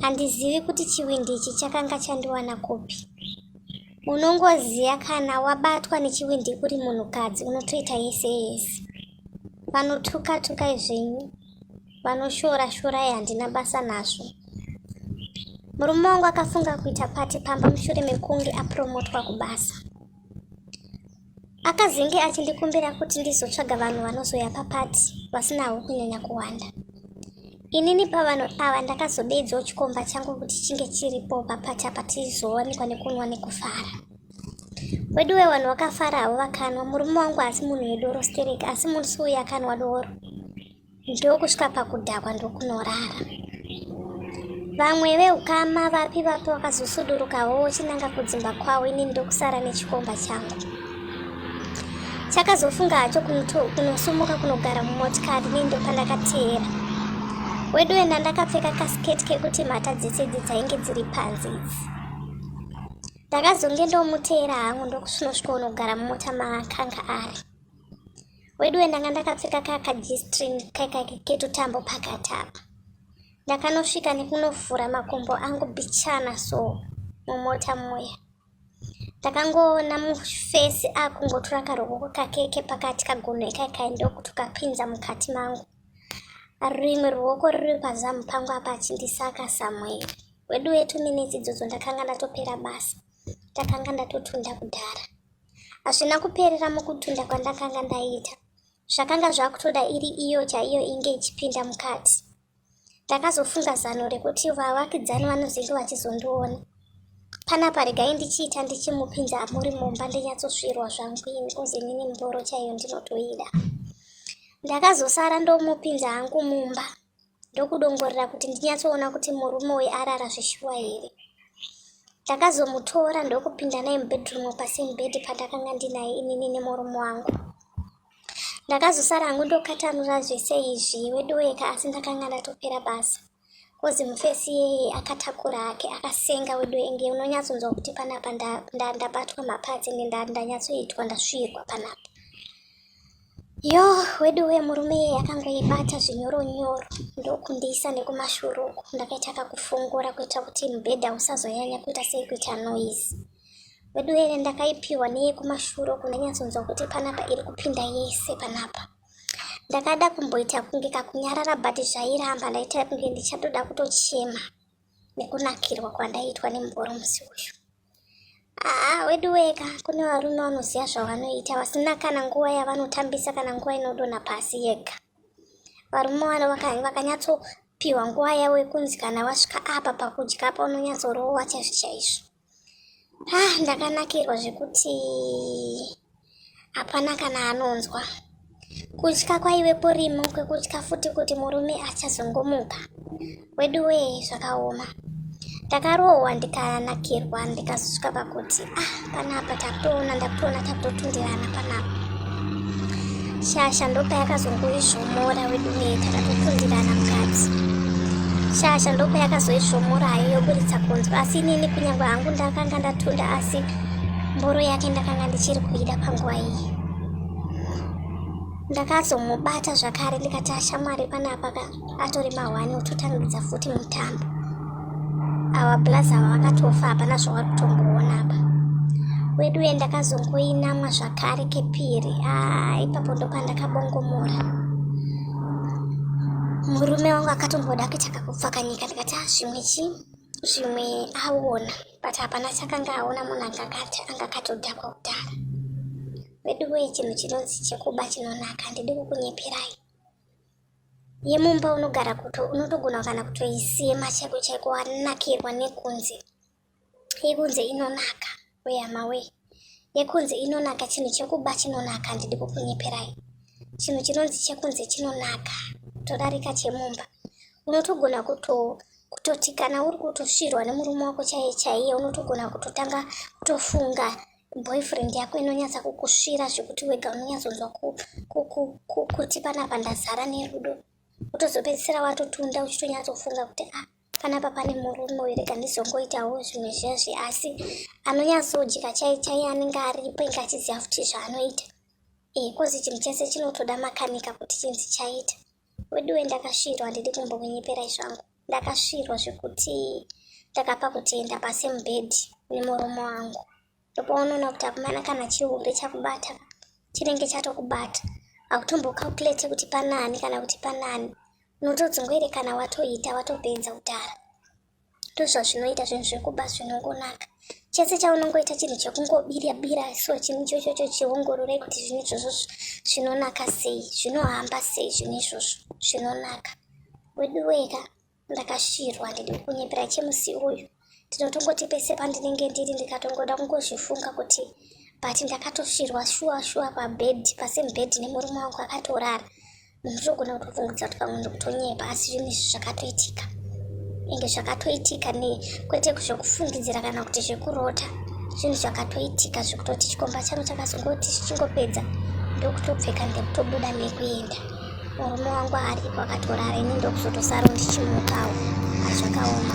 handizivi kuti chivindi ichi chakanga chandiwana kupi unongoziva kana wabatwa nechivindi uri munhukadzi unotoita yese yese vanotuka tuka izvenyu vanoshora shora ye handina basa nazvo murume wangu akafunga kuita pati pamba mushure mekunge apromotwa kubasa Akazenge achindikumbira kuti ndizotsvaga vanhu vanozoya papati vasinawo kunyanya kuwanda. Inini pavanhu ava ndakazodeedzawo chikomba changu kuti chinge chiripo papati apa tizowanikwa nekunwa nekufara. Weduwe vanhu vakafarawo vakanwa, murume wangu asi munhu wedoro stereki asi musi uyu akanwa doro. ndokusvika pakudhakwa ndokunorara vamwe veukama vapi vapi vakazosudurukawo wochinanga kudzimba kwavo inini ndokusara nechikomba changu chakazofunga hacho kunosumuka kunogara mumotikari nendo pandakateera wedu wena ndakapfeka kasiketi kekuti mhata dzese idzi dzainge dziri panzi idzi ndakazonge ndomuteera hangu ndokusinosvika unogara mumota maakanga ari weduwe ndanga ndakapfeka kaya kajistrin ketutambo pakati apa ndakanosvika nekunovhura makumbo angu bichana so mumota muya ndakangoona mufesi akungotura karokoko kake kepakati kagunhu ikaikai ndokuti ukapinza mukati mangu rimwe ruoko riri pazamu pangu apa achindisaka samueri wedu wetu minetsi idzodzo ndakanga ndatopera basa ndakanga ndatotunda kudhara hazvina kuperera mukutunda kwandakanga ndaita zvakanga zvakutoda iri iyo chaiyo inge ichipinda mukati ndakazofunga zano rekuti vavakidzani vanozenge vachizondiona panapa regai ndichiita ndichimupinza amuri mumba ndinyatsosvirwa zvangu ini kunzi nini mboro chaiyo ndinotoida ndakazosara ndomupinza hangu mumba ndokudongorera kuti ndinyatsoona kuti murume uyu arara zveshuwa here ndakazomutora ndokupinda naye mubedroom pasame bed pandakanga ndinaye inini nemurume wangu ndakazosara hangu ndokatanura zvese izvi wedoeka asi ndakanga ndatopera basa kozi mufesi iyeye akatakura hake akasenga wedoenge unonyatsonzwa kuti panapa ndabatwa mapadzi ende ndanyatsoitwa ndasvigwa panapa Yoo weduwe murume iye akangoibata zvinyoro nyoro ndokundiisa nekumashure uku ndakaita kakufongora kuita kuti mubhedha usazonyanya kuita sei kuita noise weduwe ine ndakaipiwa neyekumashure uku ndanyatsonzwa kuti panapa iri kupinda yese panapa ndakada kumboita kunge kakunyarara but zvairamba ndaita kunge ndichatoda kutochema nekunakirwa kwandaitwa nemugoro musi uyu aa wedu weka kune varume vanoziva zvavanoita vasina kana nguva yavanotambisa kana nguva inodona pasi yega varume vano vakanyatsopiwa nguva yavo yekunzi kana vasvika apa pakudya apa unonyatsorowa chaizvo chaizvo ah ndakanakirwa zvekuti hapana kana anonzwa kutya kwaive kurimo kwekutya futi kuti murume achazongomuka wedu wee zvakaoma ndakarohwa ndikanakirwa ndikazosvika pakuti ah panapa tapona ndapona tatotundirana panapa shasha ndopayakazongoizvomora wedu wee takatotundirana mukati shasha ndopayakazoizvomora hayo yoburitsa kunzwa asi inini kunyange hangu ndakanga ndatunda asi mboro yake ndakanga ndichiri kuida panguva iyi ndakazomubata zvakare ndikati ashamwari panapa ka atori mahwani ototangidza futi mutambo awa blaz ava vakatofa hapana zvawari kutomboona apa weduye ndakazongoinamwa zvakare kepiri aa ipapo ndopandakabongomora murume wangu akatomboda kuita kakupfakanyika ndikati a zvimwe chii zvimwe aona ah, but hapana chakanga aona munhu angakati angakatodhakwa kudhara veduwee chinhu chinonzi chekuba chinonaka ndidi kukunyeperai yemumba unogara kuto unotogona kana kutoisema chaiko chaiko wanakirwa nekunze yekunze inonaka weyamawee yekunzi inonaka chinhu chekuba chinonaka handidi kukunyeperai chinhu chinonzi chekunzi chinonaka todarika chemumba unotogona kuto kutoti kana uri kutosvirwa nemurume wako chaiye chaiye unotogona kutotanga kutofunga boyfriend yako inonyatsa kukusvira zvekuti wega unonyatsonzwa kuti panapa ndazara nerudo utozopedzisira watotunda uchitonyatsofunga kuti a ah, panapa pane murume uyu rega ndizongoitawo zvimwe zviya zve asi anonyatsojeka chai chai anenge aripo inge achiziva futi zvaanoita e eh, kozi chinhu chese chinotoda makanika kuti chinzi chaita weduwe ndakasvirwa handidi kumbokunyeperai zvangu ndakasvirwa zvekuti ndakapa kutienda pasemubhedhi nemurume wangu ndopaunoona kuti akomana kana chihombe chakubata chinenge chatokubata hakutombocalculate kuti panani kana kuti panani unotodzungoerekana watoita watopedza kudhara ndozvazvinoita zvinhu zvekuba zvinongonaka chese chaunongoita chinhu chekungobira bira so chinhu ichochocho chiongorore kuti zvinhu izvozvo zvinonaka sei zvinohamba sei zvinhu izvozvo zvinonaka weduweka ndakasvirwa handidi kunyepera chemusi uyu ndinotongoti pese pandinenge ndiri ndikatongoda kungozvifunga kuti but ndakatosvirwa shuwa shuwa pabed pasame bed nemurume wangu akatorara munhu zvinogona kutopfungudza kuti pamwe ndikutonyepa asi zvinhu izvi zvakatoitika ende zvakatoitika ne kwete zvekufungidzira kana kuti zvekurota zvinhu zvakatoitika zvekutoti chikomba changu chakazongoti zvichingopedza ndokutopfeka ndekutobuda nekuenda Murume wangu aripo akatorara ini ndokuzotosaro ndichimukawo. Hazvakaoma.